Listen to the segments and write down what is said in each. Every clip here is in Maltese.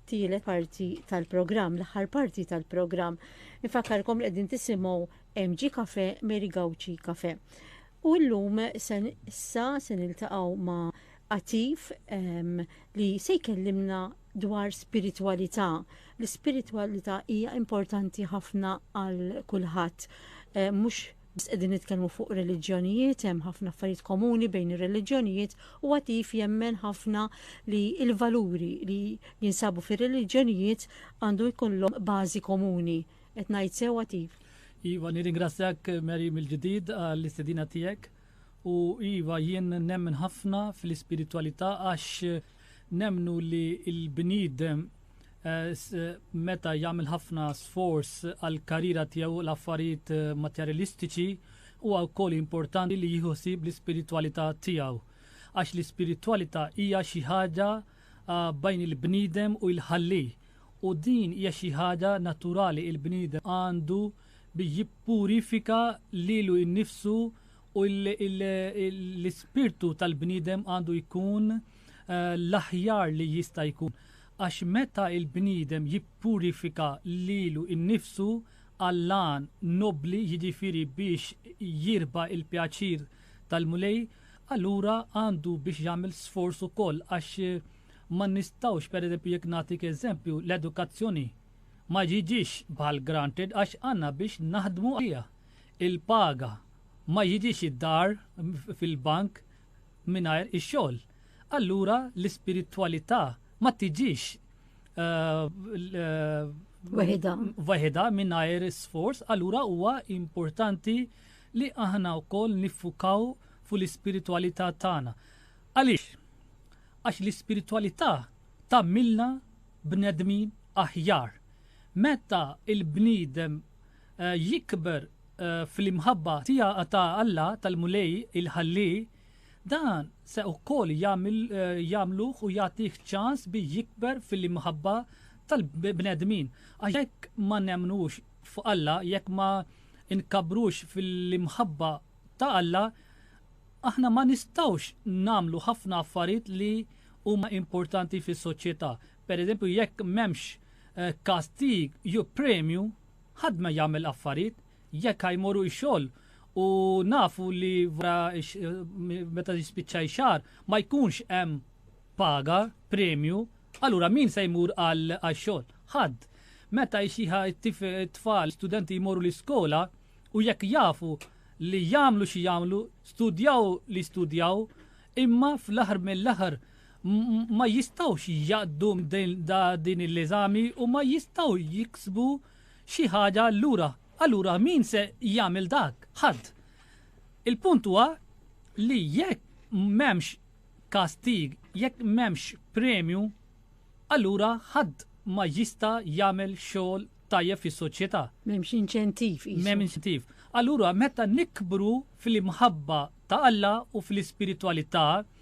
tielet parti tal-programm, l-aħħar parti tal-programm. Infakkarkom li qegħdin tisimgħu MG Cafe, Mary Gauci Cafe. U llum se issa se niltaqgħu ma' Atif ehm, li se jkellimna dwar spiritwalità. L-ispiritwalità hija importanti ħafna għal kulħadd, eh, mhux Biss qegħdin nitkellmu fuq reliġjonijiet, hemm ħafna affarijiet komuni bejn ir-reliġjonijiet u Għatif jemmen ħafna li l-valuri li jinsabu fir-reliġjonijiet għandu jkollhom bażi komuni. Qed ngħid sew Għatif? Iva, nirringrazzjak Mary mill-ġdid għall-istedina tiegħek u iva jien nemmen ħafna fl-ispiritwalità għax nemmnu li l-bniedem meta jagħmel ħafna sforz għal karriera tiegħu l-affarijiet materjalistiċi huwa wkoll importanti li jieħu sib l-ispiritwalità tiegħu. Għax l-ispiritwalità hija xi ħaġa bajn il-bniedem u l-ħalli. U din hija xi ħaġa naturali il-bniedem għandu bi jippurifika lilu innifsu u l-ispirtu tal-bniedem għandu jkun uh, l-aħjar li jista' jkun, għax meta l-bniedem jippurifika lilu nnifsu għall-għan nobbli, jiġifieri biex jirbaħ il-pjaċir tal-Mulej, allura għandu biex jagħmel sforz ukoll għax ma nistgħux, pereżempju jekk nagħtik eżempju, l-edukazzjoni ma jiġix bħal granted għax għandna biex naħdmu għaliha. Il-paga ma jiġix id-dar fil-bank, mingħajr ix-xogħol, allura l-ispiritwalità ma tiġix waħedha waħedha mingħajr sforz, allura huwa importanti li aħna wkoll niffukaw fuq l-ispiritwalità tagħna. Għaliex? Għax l-ispiritwalità tagħmilna bnedmin aħjar. Meta l-bniedem jikber fl-imħabba tiegħu ta' Alla, tal-Mulej il-Ħalli, dan se wkoll jagħmluh u jagħtih ċans bi jikber fl-imħabba tal-bnedmin. Għax jekk ma nemmnux f'Alla, jekk ma nkabbrux fl-imħabba ta' Alla, aħna ma nistgħux nagħmlu ħafna affarijiet li huma importanti fis-soċjetà. Pereżempju, jekk m'hemmx kastig jew premju, Hadd ma jagħmel affarijiet jekk ha jmorru ix-xogħol u nafu li wara meta jispiċċa x-xahar ma jkunx hemm paga, premju, allura min se jmur għax-xogħol? Hadd. Meta x-xieħa t-tfal, studenti jmorru l-iskola u jekk jafu li jagħmlu xi jagħmlu, studjaw li studjaw, imma fl-aħħar mill-aħħar ma jistgħux jgħaddu din il-eżami u ma jistgħu jiksbu xi ħaġa allura. Allura min se jagħmel dak? Ħadd. Il-punt huwa li jekk m'hemmx kastig, jekk m'hemmx premju, allura ħadd ma jista' jagħmel xogħol tajjeb fis-soċjetà. M'hemmx inċentiv. M'hemm inċentiv. Allura meta nikbru fil-imħabba ta' Alla u fl-ispiritwalità,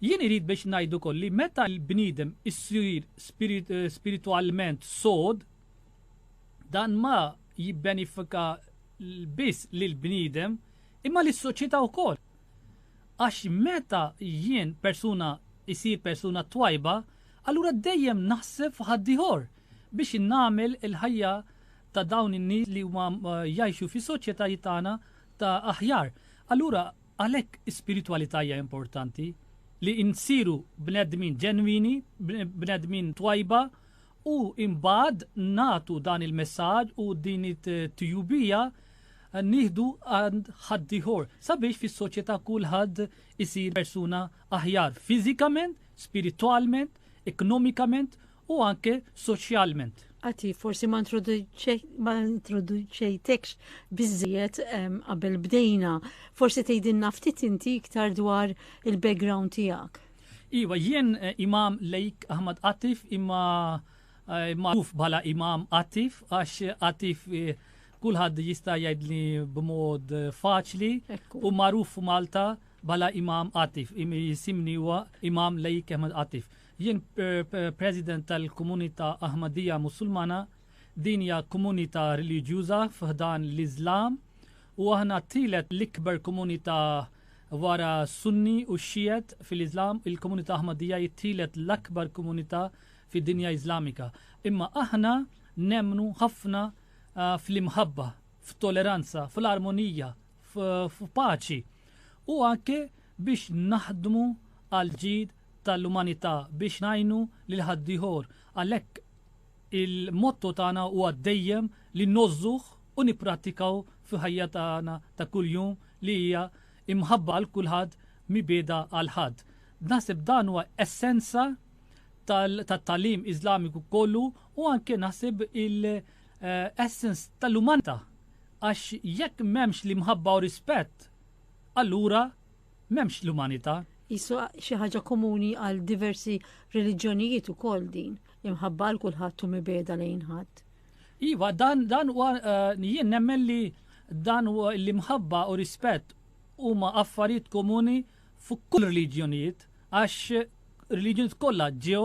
Jien irid biex ngħid ukoll li meta l-bniedem isir spiritwalment sod, dan ma jibbenifika biss lill-bniedem imma lis-soċjetà wkoll. Għax meta jien persuna isir persuna twajba, allura dejjem naħseb f'ħaddieħor biex nagħmel il-ħajja ta' dawn in-nies li huma jgħixu fis-soċjetà tagħna ta' aħjar. Allura Għalhekk spiritwalità hija importanti, li nsiru bnedmin ġenwini, bnedmin twajba u imbagħad nagħtu dan il-messaġġ u din it-tjubija nieħdu għand ħaddieħor sabiex fis-soċjetà kulħadd isir persuna aħjar fiżikament, spiritwalment, ekonomikament u anke soċjalment. Għati, forsi ma introduċejtekx bizziet qabel bdejna, forsi tejdin naftit inti iktar dwar il-background tijak. Iwa, jien eh, imam Lejk Ahmad Atif imma eh, magħruf bħala imam Atif għax Atif eh, kulħadd jista' jgħidli b'mod faċli u magħruf f'Malta bħala imam Atif, jisimni huwa imam Lejk Ahmad Atif. Jien President tal-Komunità Ahmadija Musulmana, din hija komunità reliġjuża f'ħdan l-Iżlam u aħna t-tielet l-ikbar komunità wara Sunni u Xijet fil-Iżlam, il-Komunità Ahmadija hi t-tielet l-akbar komunità fid-dinja Iżlamika. Imma aħna nemmnu ħafna fl-imħabba, f'toleranza, fl-armonija, f'paċi u anke biex naħdmu għall-ġid tal-umanità biex ngħinu lil ħaddiehor. Għalhekk il-motto tagħna huwa dejjem li ngħożżuh u nipprattikaw fil-ħajja tagħna ta' kuljum li hija imħabba għal kulħadd mibgħeda għal ħadd. Naħseb dan huwa essenza tat-tagħlim Iżlamiku kollu u anke naħseb il-essence tal-umanità għax jekk m'hemmx l-imħabba u rispett allura M'hemmx l-umanità. Qisu xi ħaġa komuni għal diversi reliġjonijiet ukoll din, imħabba għal kulħadd u mibegħda lejn ħadd. Iva, dan dan huwa eh, jien nemmen li dan huwa li mħabba u rispett huma affarijiet komuni fuq kull reliġjonijiet għax reliġjonijiet kollha ġew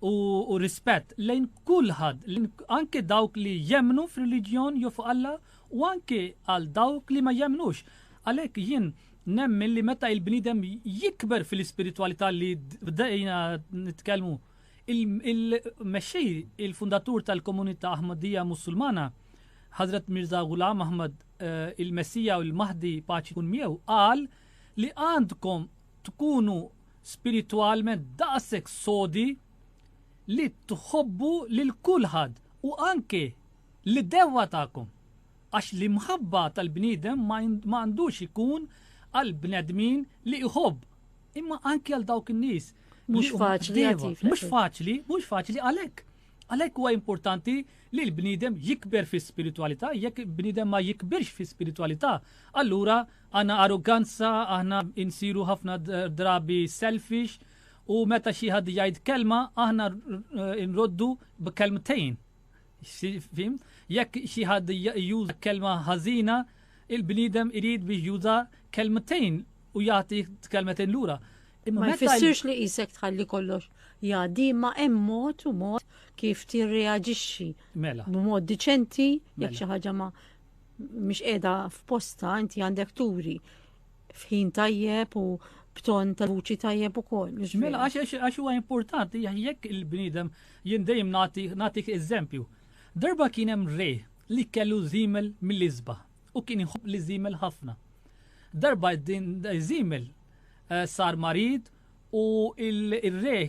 u rispett lejn kulħadd, anke dawk li jemmnu f'reliġjon jew fuq Alla u anke għal dawk li ma jemmnux. Għalhekk jien nemmen li meta il-bniedem jikber fil-ispiritwalità li bdejna nitkellmu, il-mexxej, il-fundatur tal-komunità Ahmadija Musulmana, Ħadrat Mirza Ghulam Ahmad eh, il-Messija u l-Mahdi paċi kun miegħu qal li għandkom tkunu spiritwalment daqshekk sodi li tħobbu lil kulħadd u anke lid-dewwa tagħkom. Għax l-imħabba tal-bniedem ma għandux ikun għall-bnedmin li jħobb, imma anke għal dawk in-nies. Mhux faċli Mhux faċli, mhux faċli għalhekk. Għalhekk huwa importanti li l-bniedem jikber fi spiritualità, jekk bniedem ma jikbirx fi spiritualità, allura Għandna arruganza, aħna insiru ħafna drabi selfish u meta xi ħadd jgħid kelma aħna nroddu b'kelmtejn. Fim? Jekk xi ħadd juża kelma ħażina, il-bniedem irid biex juża kelmtejn u jagħti kelmtejn lura. Ma jfissirx li jisek tħalli kollox jgħaddi ma hemm mod u mod kif tirreaġixxi. Mela. B'mod diċenti, jekk mela. xi ħaġa ma mhix qiegħda f'posta inti għandek turi f'ħin tajjeb u b'ton ta' vuċi tajjeb ukoll. Mela għax għax huwa importanti jekk il-bniedem jien dejjem nagħtik eżempju. Darba kien hemm re li kellu żimel mill-isba u kien jħobb li żimel ħafna. Darba din żimel eh, sar marid U il-re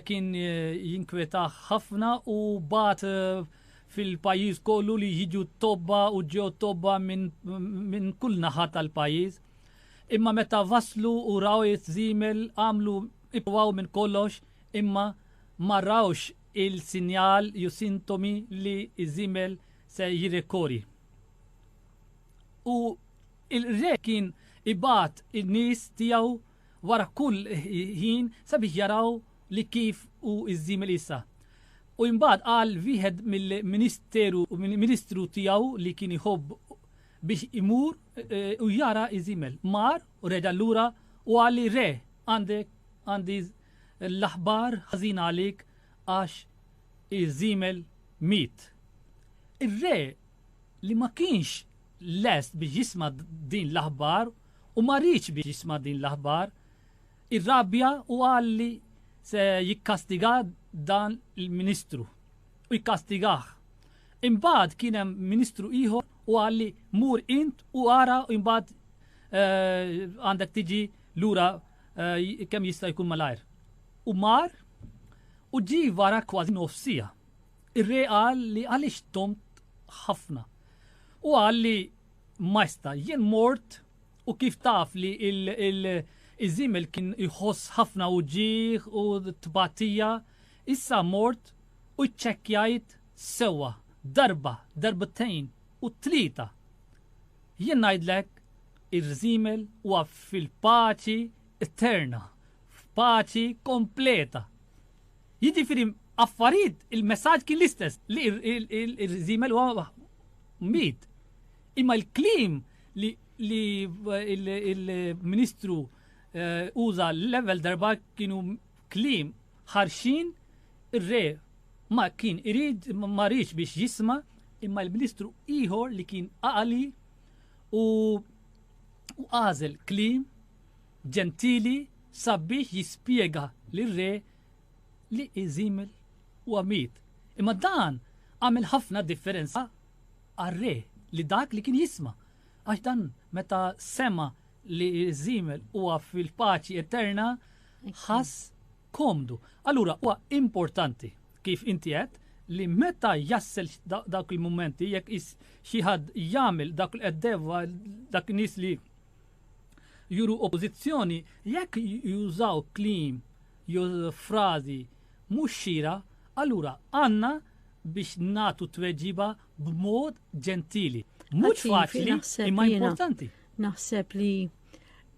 kien jinkwetah ħafna u bat fil-pajjiż kollu li jiġu t-tobba u ġew tobba minn kull naħa tal-pajjiż. Imma meta waslu u raw iż-żiemel għamlu ipruvaw minn kollox imma ma rawx il-sinjal jew sintomi li ż-żiemel se jirrekori. U il-re kien ibgħat in-nies tiegħu wara kull ħin sabiex jaraw li kif hu ż-żiemel issa. U imbagħad qal wieħed mill-ministeru ministru tiegħu li kien iħobb biex imur u jara ż-żiemel. Mar u reġa' lura u qal li re għandek għandi l-aħbar ħażina għalik għax iż-żiemel miet. Ir-re li ma kienx lest biex jisma' din l-aħbar u ma riedx biex jisma' din l-aħbar, irrabja u qal li se jikkastiga dan il-Ministru u jkastigah. Imbagħad kien hemm Ministru ieħor u qal li mur int u ara u imbagħad eh, għandek tiġi lura eh, kemm jista' jkun malajr. U mar u ġi wara kważi nofsija. Ir-re qal li għaliex domt ħafna. U qal li, Majsta, jien mort u kif taf li iż-żiemel kien jħoss ħafna uġigħ u tbatija, issa mort u ċċekkjajt sewwa darba, darbtejn u tlieta. Jien ngħidlek, ir-żiemel huwa fil-paċi eterna, f'paċi kompleta. Jiġifieri affarijiet il-messaġġ kien l-istess li r-riżimel huwa miet. Imma l-kliem li l-Ministru uża l-ewwel darba kienu kliem ħarxin ir-re ma kien irid ma riedx biex jisma' imma l-Ministru ieħor li kien għaqli u għażel kliem Ġentili sabiex jispjega lir-re li Iżimil huwa miet. Imma dan għamel ħafna differenza għar-re li dak li kien jisma', għax dan meta sema' li Iżimil huwa fil-paċi eterna ħass komdu. Allura huwa importanti, kif inti għedt, li meta jassel dawk il-mumenti jekk xi ħadd jagħmel dak li qed dak nies li juru oppożizzjoni jekk jużaw kliem jew frażi mhux xieraq, allura għandna biex nagħtu tweġiba b'mod ġentili. Mhux faċli, imma importanti. Naħseb li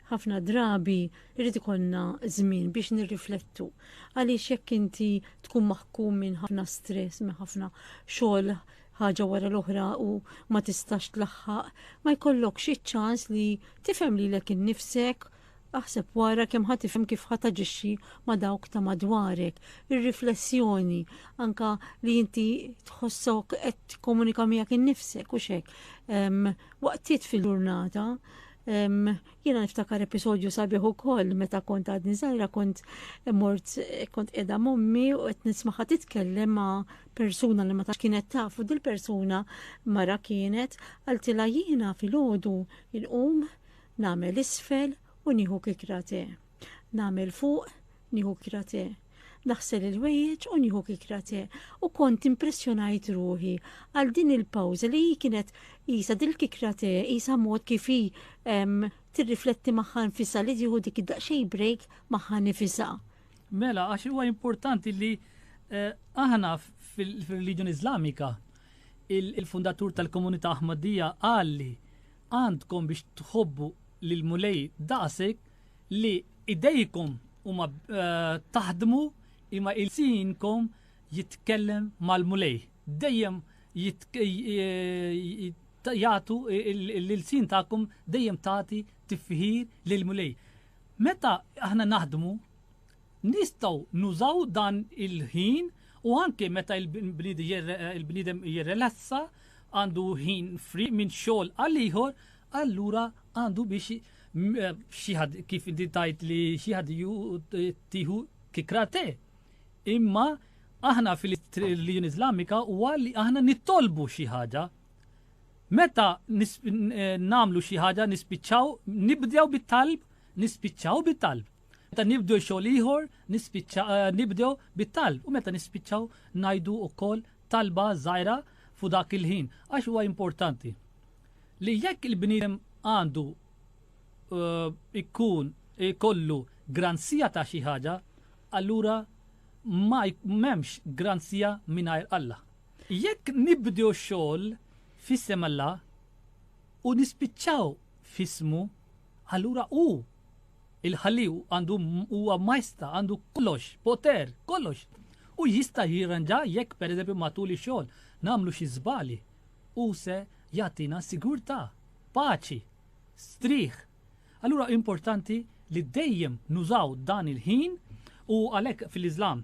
ħafna drabi irrid ikollna żmien biex nirriflettu. Għaliex jekk inti tkun maħkum minn ħafna stress, minn ħafna xogħol ħaġa wara l-oħra u ma tistax tlaħħaq, ma jkollokx iċ-ċans li tifhem lilek innifsek, aħseb wara kemm ħa tifhem kif ħa taġixxi ma' dawk ta' madwarek. Ir-riflessjoni, anke li inti tħossok qed tikkomunika miegħek innifsek u xek, waqtiet fil-ġurnata, Jiena niftakar episodju sabiħ ukoll meta kont għadni żgħira kont mort kont qiegħda mommi u qed nismaħa titkellem ma' persuna li ma ta' kienet tafu dil-persuna mara kienet għaltila jiena fil-ħodu il-qum namel isfel u nieħu kikrate. Namel fuq nieħu kikrate. Naħsel il-wejjeġ u nieħu kikrate u kont impressjonajt ruħi għal din il-pawza li hi kienet jisa dil-kikrate jisa mod kif hi tirrifletti magħha nfisa li tieħu dik id-daqsxejn break magħha nifisa. Mela, għax huwa importanti li eh, aħna fil-reliġjon Iżlamika il-fundatur tal-komunità Ahmadija għalli għandkom biex tħobbu lil mulej daqsek li idejkom huma eh, taħdmu imma il-sinkom jitkellem mal-mulej. Dejjem eh, jgħatu l-sin tagħkom dejjem tagħti tifħir lil mulej. Meta aħna naħdmu, nistgħu nużaw dan il-ħin u anke meta il-bniedem jirrelassa għandu ħin free minn xogħol għal ieħor, allura għandu biex xieħad kif inti tajt li xieħad ju tiħu kikrate. Imma aħna fil-Religion Islamika huwa li aħna nittolbu xi ħaġa. Meta nagħmlu xi ħaġa nispiċċaw nibdew bit-talb, nispiċċaw bit-talb. Meta nibdew xogħol ieħor nibdew bit-talb u meta nispiċċaw ngħidu wkoll talba żgħira fu dak il-ħin għax huwa importanti li jekk il-bniedem għandu eh, ikun ikollu granzija ta' xi ħaġa, allura ma m'hemmx granzija mingħajr Alla. Jekk nibdew xogħol f'isem Alla u nispiċċaw f'ismu, allura hu il-Ħalli għandu huwa majsta, għandu kollox, poter, kollox. U jista' jirranġa jekk pereżempju matul ix-xogħol nagħmlu xi żbali. U se jagħtina sigurtà, paċi, strieħ. Allura importanti li dejjem nużaw dan il-ħin u għalhekk fil-Iżlam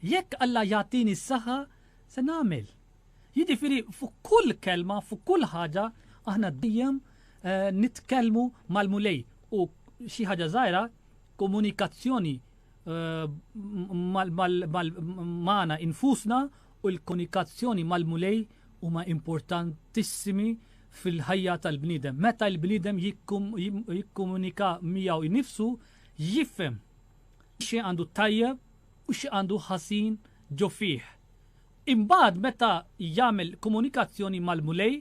Jekk Alla jagħtini s-saħħa, se nagħmel. Jiġifieri fuq kull kelma, fuq kull ħaġa, aħna dejjem nitkellmu mal-Mulej u xi ħaġa żgħira komunikazzjoni magħna infusna u l-komunikazzjoni mal-Mulej huma importantissimi fil-ħajja tal-bniedem. Meta l-bniedem jikkomunika miegħu nnifsu, jifhem. xi għandu t-tajjeb u xi għandu ħażin ġo fih. Imbagħad meta jagħmel komunikazzjoni mal-Mulej,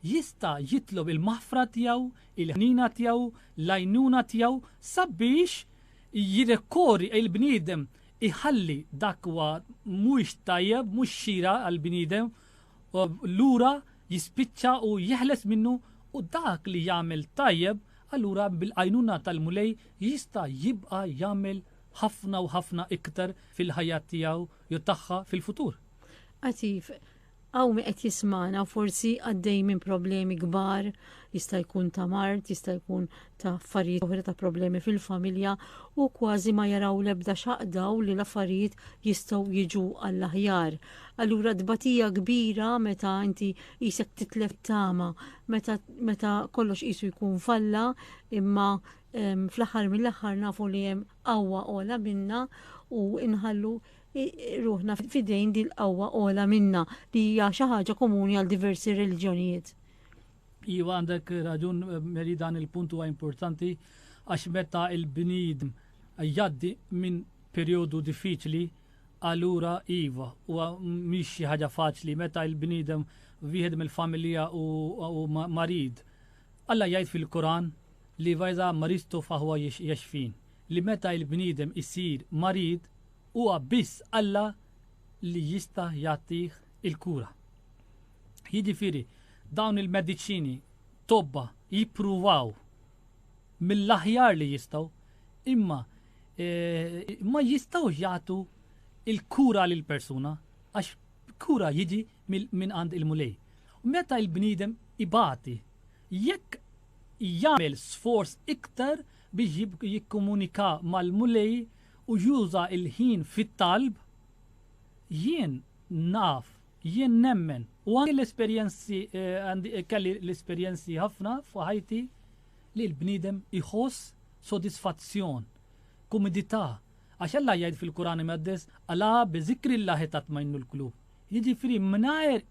jista' jitlob il-maħfra tiegħu, il-ħniena tiegħu, l-għajnuna tiegħu sabiex jirrekorri il-bniedem iħalli dak huwa mhuwiex tajjeb, mhux xieraq għall-bniedem u allura jispiċċa u jeħles minnu u dak li jagħmel tajjeb allura bil-għajnuna tal-Mulej jista' jibqa' jagħmel ħafna u ħafna iktar fil-ħajja tiegħu jew tagħha fil-futur. Għatif, Hawn min qed jismana forsi għaddej minn problemi kbar, jista' jkun ta' mart, jista' jkun ta' affarijiet oħra ta' problemi fil-familja u kważi ma jaraw l-ebda xaqdaw li l-affarijiet jistgħu jiġu għall-aħjar. Allura tbatija kbira meta inti jisek titlef tama, meta, meta kollox qisu jkun falla, imma fl-aħħar mill-aħħar nafu li hemm qawwa ola minna u inħallu ruħna fidejn dil qawwa ola minna li hija xi ħaġa komuni għal diversi reliġjonijiet. Iva għandek raġun Meli dan il-punt huwa importanti għax meta il-bniedem jgħaddi minn perjodu diffiċli allura iva huwa mhix xi ħaġa faċli meta il-bniedem wieħed mill-familja u marid. Alla jgħid fil-Kuran li vajza maristu faħwa jaxfin li meta il-bniedem isir marid huwa biss Alla li jista' jagħtih il-kura. Jiġifieri, Dawn il-mediċini tobba jippruvaw mill-aħjar li jistgħu imma ma jistgħux jagħtu l-kura lill-persuna għax kura jiġi minn għand il-Mulej. Meta l-bniedem ibati, jekk jagħmel sforz iktar biex jikkomunika mal-Mulej u juża l-ħin fit-talb, jien naf Jien nemmen, u anki l-esperjenzi, kelli l-esperjenzi ħafna f'ħajti li l-bniedem iħoss sodisfazzjon, kumidità, għax Alla jgħid fil-Quran Imqaddes, Alā bi zikrillāhi tatma'innul qulūb. Jiġifieri mingħajr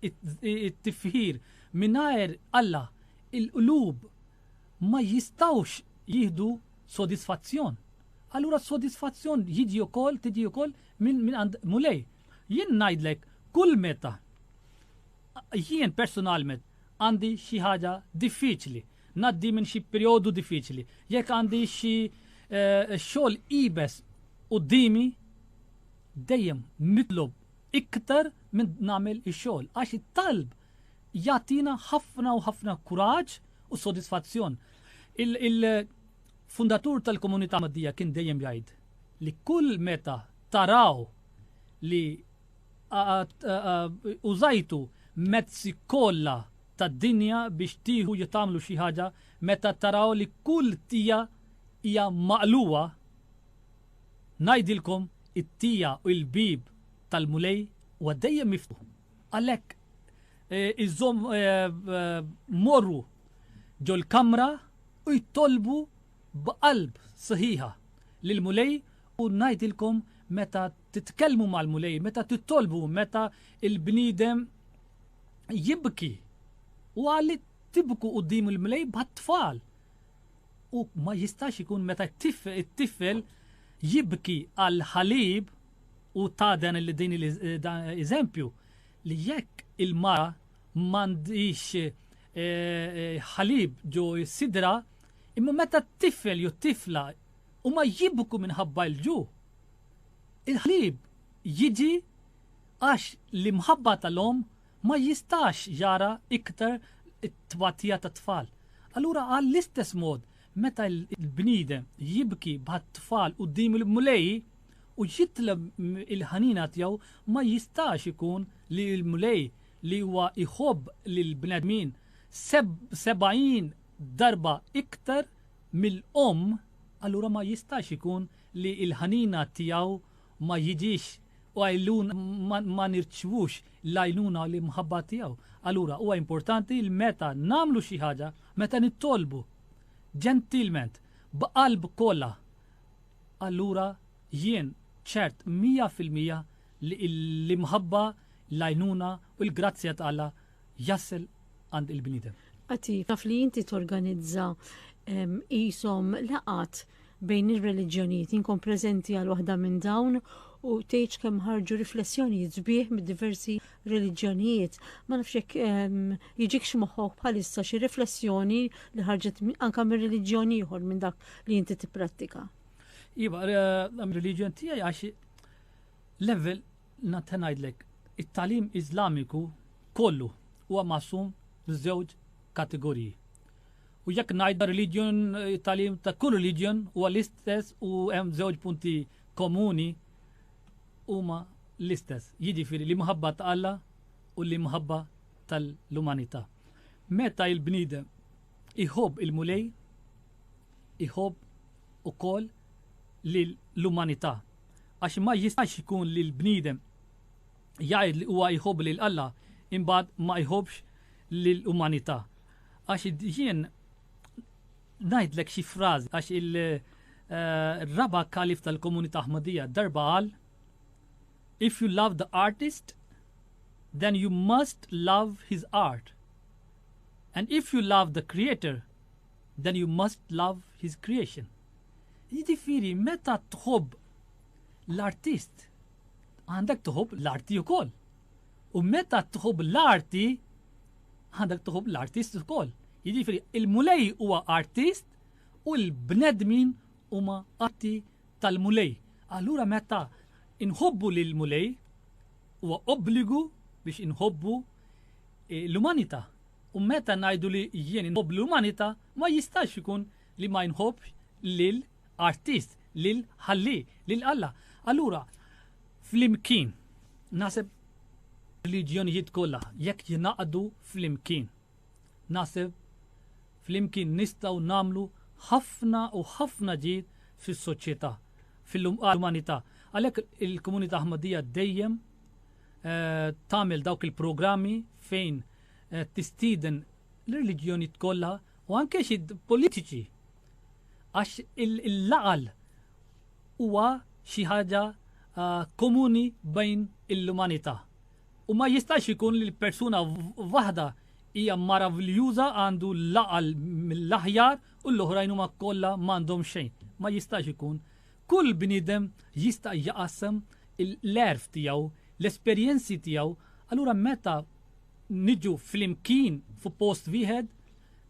it-tifħir, mingħajr Alla, il-qlub ma jistgħux jieħdu sodisfazzjon. Allura s-sodisfazzjon jiġi wkoll, tiġi wkoll minn għand Mulej. Jien ngħidlek kull meta jien persunalment għandi xi ħaġa diffiċli, ngħaddi minn xi perjodu diffiċli, jekk għandi xi eh, xogħol ibes qudiemi, dejjem nitlob iktar minn nagħmel ix-xogħol għax it-talb jagħtina ħafna u ħafna kuraġġ u sodisfazzjon. Il-fundatur tal-komunità Maddija kien dejjem jgħid li kull meta taraw li użajtu mezzi kollha tad-dinja biex tieħu jew tagħmlu xi ħaġa, meta taraw li kull tija hija maqlugħa, ngħidilkom, it-tija u l-bieb tal-Mulej huwa dejjem miftuħ. Għalhekk iżżomm morru ġol-kamra u jtolbu b'qalb sħiħa lill-Mulej u ngħidilkom meta titkellmu mal-Mulej, meta titolbu, meta l-bniedem jibki. U qal li tibku quddiem il-Mulej bħat-tfal. U ma jistax ikun meta t-tifel jibki għal ħalib u ta' dan li din l-eżempju li jekk il-mara m'għandix eh, eh, ħalib ġo sidra Imma meta t-tifel jew t-tifla huma jibku minħabba l-ġuħ, il-ħlieb jiġi għax l-imħabba tal-omm ma jistax jara iktar it-tbatija tat-tfal. Allura għall-istess mod meta l-bniedem jibki bħat-tfal quddiem il-Mulej u jitlob il-ħnina tiegħu ma jistax ikun li l-Mulej li huwa jħobb lill-bnedmin sebgħin darba iktar mill-omm allura ma jistax ikun li l-ħanina tiegħu ma jiġix u għajlun ma nirċvux l-għajnuna u l-imħabba tiegħu. Allura huwa importanti li meta nagħmlu xi ħaġa, meta nittolbu ġentilment b'qalb kollha, allura jien ċert mija fil-mija li l-imħabba, l-għajnuna u l-grazzja t'Alla jasel għand il-bniedem. Għati, taf li inti torganizza qishom laqgħat bejn ir-reliġjonijiet, jien kont preżenti għal waħda minn dawn u tgħidx kemm ħarġu riflessjonijiet sbieħ mid-diversi reliġjonijiet. Ma nafx jekk jiġikx moħħok bħalissa xi riflessjoni li ħarġet anke minn reliġjon ieħor minn dak li inti tipprattika. Iva, l-reliġjon tiegħi għax level Nista' ngħidlek, it-tagħlim Iżlamiku kollu huwa maqsum f'żewġ kategoriji. U jekk ngħidha religion, it-tagħlim ta' kull religion huwa l-istess u hemm żewġ punti komuni huma l-istess, jiġifieri l-imħabba ta' Alla u l-imħabba tal-umanità. Meta l-bniedem iħobb il-Mulej, iħobb ukoll lill-umanità. għax ma jistax ikun li l-bniedem jgħid li huwa jħobb lil Alla imbagħad ma jħobbx lill-umanità. Għax jien ngħidlek xi frażi għax il-raba' kalif tal-komunità Aħmadija darba qal If you love the artist, then you must love his art. And if you love the creator, then you must love his creation. Jiġifieri meta tħobb l-artist għandek tħobb l-arti wkoll. U meta tħobb l-arti għandek tħobb l-artist ukoll. Jiġifieri il-Mulej huwa artist u l-bnedmin huma atti tal-Mulej. Allura meta inħobbu lil Mulej huwa obbligu biex inħobbu eh, l-umanità. U meta ngħidu li jien inħobb l-umanità ma jistax ikun li ma jnħobbx lil artist, lil ħalli, lil Alla. Allura, flimkien, naħseb reliġjonijiet kollha jekk jingħaqdu flimkien. Naħseb flimkien nistgħu nagħmlu ħafna u ħafna ġid fis-soċjetà, fil-umanità. Għalhekk il-komunità Ħmadija dejjem eh, tagħmel dawk il-programmi fejn eh, tistiden l-reliġjoni kollha u anke xi politiċi għax l-għaqal huwa xi ħaġa komuni bejn l-umanità u ma jistax ikun li l-persuna waħda hija maraviljuża għandu l-għaqal mill-aħjar u l-oħrajn huma kollha m'għandhom xejn. Ma jistax ikun Kull bniedem jista' jaqassam l-għerf tiegħu, l-esperjenzi tiegħu, allura meta niġu flimkien fuq post wieħed,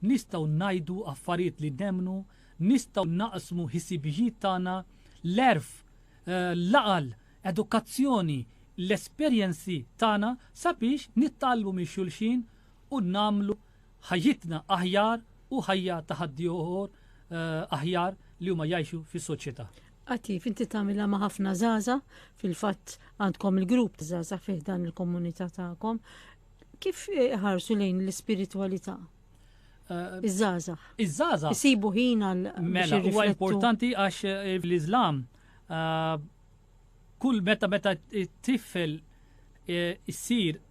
nistgħu ngħidu affarijiet li nemmnu, nistgħu naqsmu ħisibijiet tagħna, l-għerf, l-għaqal, edukazzjoni, l-esperjenzi tagħna sabiex nitgħallmu minn xulxin u nagħmlu ħajjitna aħjar u ħajja ta' ħaddiehor aħjar li huma jgħixu fis-soċjetà. Attiv, inti tagħmilha ma' ħafna żaża, fil-fatt għandkom il-grupp ta' żaża fih dan il-komunità tagħkom. Kif ħarsu lejn l-ispiritwalità? Eh, Iż-żaża. Iż-żaża. Isibu ħin għal. Mela, huwa importanti għax eh, l-Iżlam eh, kull meta meta tifel issir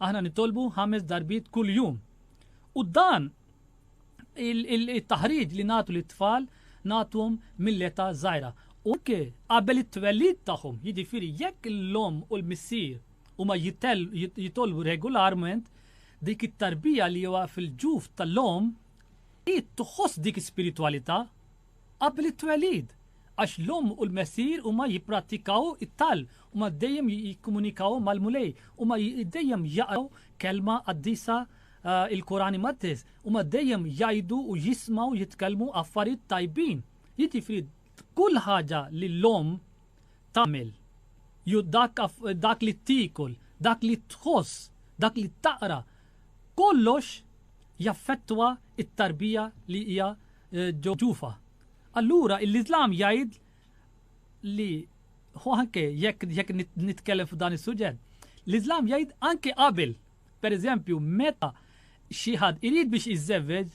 Aħna nitolbu ħames darbiet kuljum. U dan it-taħriġ li nagħtu lit-tfal nagħtuhom mill-età żgħira. U anke qabel it-twelid tagħhom, jiġifieri jekk l-omm u l-missier huma jitolbu regolarment, dik it-tarbija li huwa fil-ġuf tal-omm hi tħoss dik ispiritwalità qabel it-twelid. Għax l-Omm u l-Messier huma jipprattikaw it-talb, huma dejjem jikkomunikaw mal-Mulej, huma dejjem jaqraw kelma qaddisa, il-Quran Imqaddes, huma dejjem jgħidu u jismgħu jitkellmu affarijiet tajbin. Jiġifieri kull ħaġa li l-Omm tagħmel, jew dak li tiekol, dak li tħoss, dak li taqra, kollox jaffettwa t-tarbija li hija ġo ġufha. Allura l-Iżlam jgħid li u anke jekk jekk nitkellem f'dan is-suġġett, l-Iżlam jgħid anke qabel, pereżempju meta xi ħadd irid biex iżżewweġ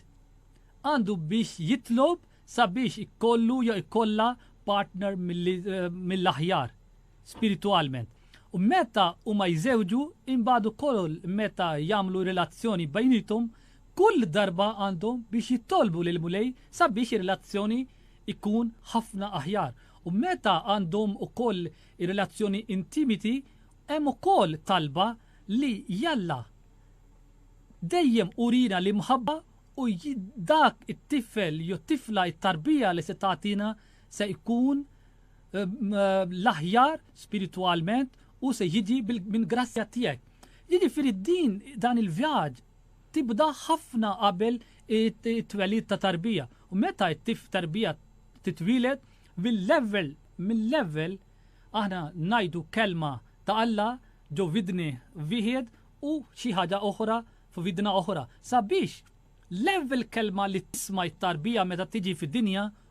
għandu biex jitlob sabiex ikollu jew ikollha partner eh, mill-aħjar. spiritwalment. U meta huma jżewġu, imbagħad ukoll meta jagħmlu relazzjoni bejniethom, kull darba għandhom biex jitolbu lill-Mulej sabiex ir-relazzjoni jkun ħafna aħjar. U meta għandhom ukoll relazzjoni intimiti, hemm ukoll talba li Jalla dejjem urina l-imħabba u dak it-tifel jew tifla t-tarbija li se tagħtina se jkun ehm, l-aħjar spiritualment u se jiġi minn grazzja tiegħek. Jiġifieri din dan il-vjaġġ tibda ħafna qabel it-twelid ta' tarbija. U meta t-tif tarbija titwilet mill-level mill-level aħna najdu kelma ta' Alla ġo vidni viħed u xi ħaġa oħra f'vidna oħra. Sabiex level kelma li tisma' t tarbija meta tiġi fid-dinja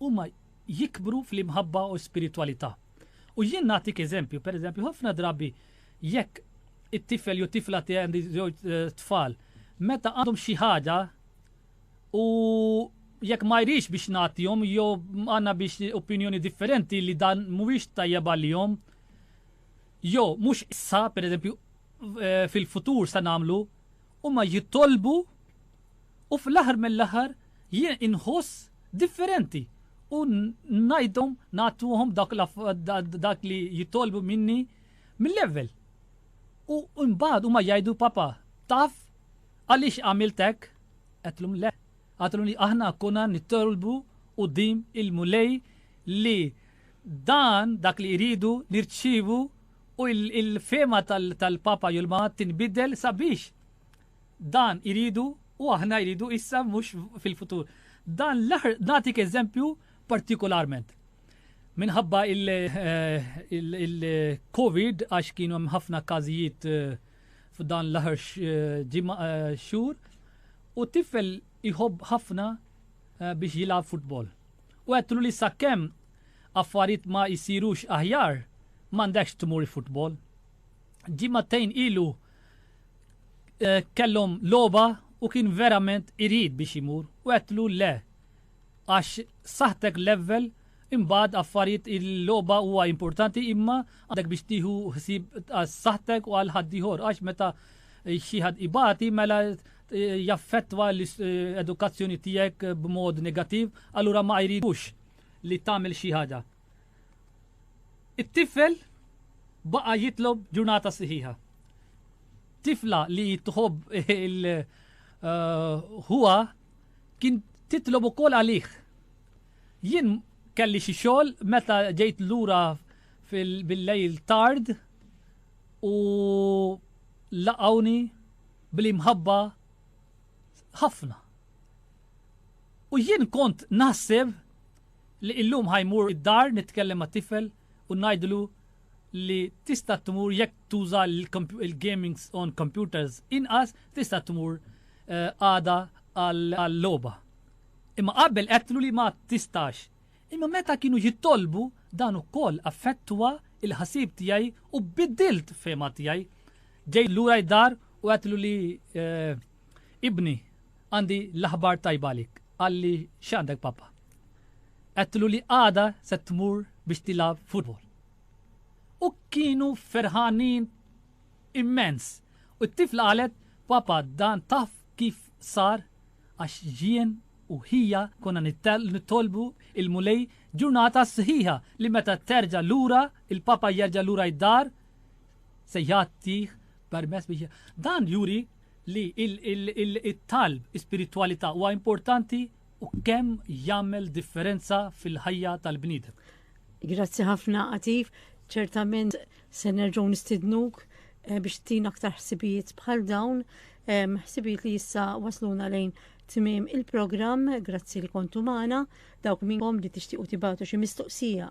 huma jikbru fl-imħabba u spiritwalità. U jien nagħtik eżempju, pereżempju, ħafna drabi jekk it-tifel jew tifla tiegħi għandi żewġ eh, tfal, meta għandhom xi ħaġa u jekk ma jrix biex nagħtihom jew għandna biex opinjoni differenti li dan mhuwiex tajjeb għalihom, jew mhux issa, pereżempju, eh, fil-futur sa nagħmlu, huma jitolbu U fl-aħħar mill-aħħar jien inħoss differenti u ngħidhom nagħtuhom dak li jitolbu minni mill-ewwel. U mbagħad huma jgħidu papa, taf għaliex għamilt hekk? Għedtlhom le. Għadtlhom li aħna konna nitolbu quddiem il-Mulej li dan dak li jridu nirċivu u il-fema tal-papa julma tinbidel sabiex Dan iridu u aħna jridu issa mhux fil-futur. Dan nagħtik eżempju partikolarment. Minħabba il-COVID għax kienu hemm ħafna każijiet eh, f'dan l-aħħar eh, eh, xhur u tifel iħobb ħafna biex jilgħab futbol. U għedtlu li sakkemm affarijiet ma jsirux aħjar, m'għandekx tmur futbol. Ġimagħtejn ilu kellhom logħba u kien verament irid biex imur u għedtlu le għax saħtek level imbagħad affarijiet il-logħba huwa importanti imma għandek biex tieħu ħsieb saħtek u għal ħaddieħor għax meta xi ħadd ibati mela jaffettwa l-edukazzjoni tiegħek b'mod negattiv, allura ma jridux li tagħmel xi ħaġa. It-tifel baqa' jitlob ġurnata siħiħa. Tifla li tħobb il ħuha eh, kien titlob ukoll għalih. Jien kelli xi xogħol meta ġejt lura bil-lejl tard u laqawni bl-imħabba ħafna. U jien kont naħseb Li illum ħa jmur id-dar nitkellem mat-tifel u ngħidlu li tista' tmur jekk tuża l-gaming on computers inqas tista' tmur għada għal-logħba. Imma qabel għedtlu li ma tistax. Imma meta kienu jitolbu dan ukoll affettwa l-ħsieb tiegħi u biddilt fehma tiegħi. Ġejt lura id-dar u għedtlu li ibni Għandi l-aħbar tajba għalik, qalli, X'għandek pappa? Għedtlu li għada se tmur biex tilgħab futbol. U kienu ferħanin immens u t-tifla qalet, Pappa dan taf kif sar għax jien u ħija konna nittolbu il-Mulej ġurnata sħiħa li meta terġa' lura il-pappa jerġa' lura id-dar se jagħtih permess biex dan juri li t-talb, l-ispiritwalità huwa importanti u kemm jagħmel differenza fil-ħajja tal-bniedem. Grazzi ħafna Atif, ċertament se nerġgħu nistidnuk eh, biex tina aktar ħsibijiet bħal dawn, eh, ħsibijiet li issa wasluna lejn tmiem il-programm, grazzi li kontu magħna, dawk minnkom li tixtiequ tibatu xi mistoqsija